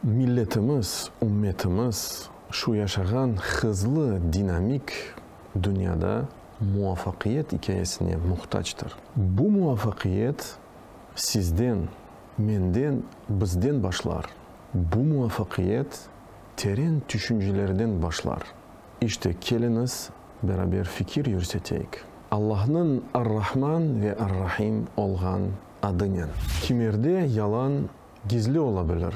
Milletimiz, ümmetimiz şu yaşağan hızlı, dinamik dünyada muvafaqiyet ikâyesine muhtactır. Bu muvafaqiyet sizden, menden, bizden başlar. Bu muvafaqiyet teren tüşüncelerden başlar. İşte, keliñiz, beraber fikir yürseteyik. Allahnıñ Ar-Rahman ve Ar-Rahim olğan adınen. Kimerde yalan gizli ola bilir?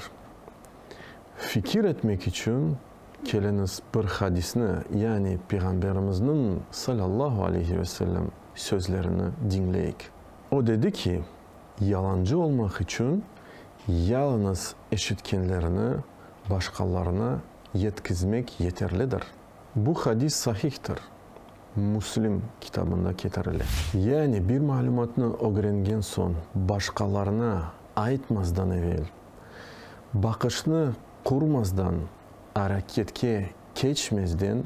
Fikir etmek içün keliñiz bir hadisni, yani Peyğamberimizniñ, salâllahu aleyhi ve sellem, sözlerini diñleyik. O dedi ki, yalancı olmaq içün yalıñız eşitkenlerini başqalarına yetkizmek yeterlidir. Bu hadis sahihtir, Müslim kitabında ketirile. Yani bir malümatnı ögrengen soñ başqalarına aytmazdan evel, baqışnı qurmazdan, areketke keçmezden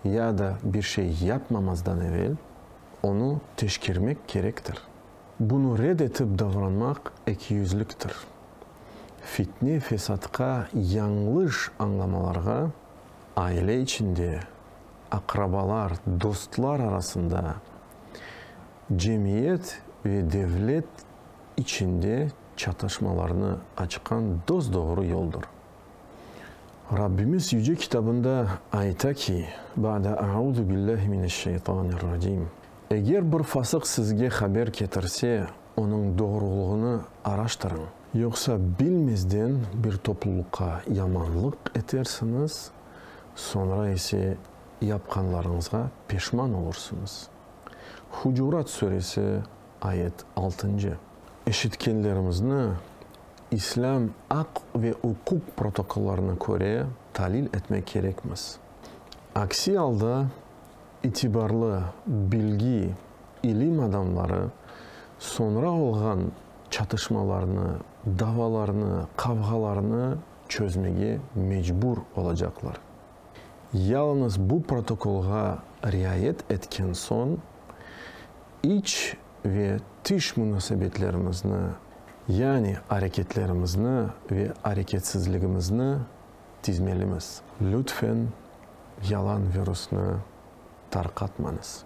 ya da bir şey yapmamazdan evel, onı teşkermek kerektir. Bunı red etip davranmaq ekiyüzliktir, fitne-fesatqa, yañlış añlamalarğa, aile içinde, aqrabalar, dostlar arasında, cemiyet ve devlet içinde çatışmalarnı açqan dos-doğru yoldur. Rabbimiz Yüce Kitabında ayta ki, Ba'de A'uzu billahi mineş-şeytanir-racim, Eger bir fasıq sizge haber ketirse, onıñ doğrulığını araştırıñ. Yoqsa bilmezden bir toplulıqqa yamanlıq etersiñiz, soñra ise yapqanlarıñızğa peşman olursıñız. Hucurat suresi, ayet altıncı. Eşitkenlerimizni islâm aq ve uquq protokollarına köre talil etmek kerekmiz. Aksi alda İtibarlı, bilgi, ilim adamları soñra olğan çatışmalarnı, davalarnı, qavğalarnı çözmege mecbur olacaqlar. Yalıñız bu protokolğa riayet etken soñ, iç ve tış munasebetlerimizni, yani areketlerimizni ve areketsizligimizni tizmelimiz. Lütfen yalan virusnı tarqatmañız.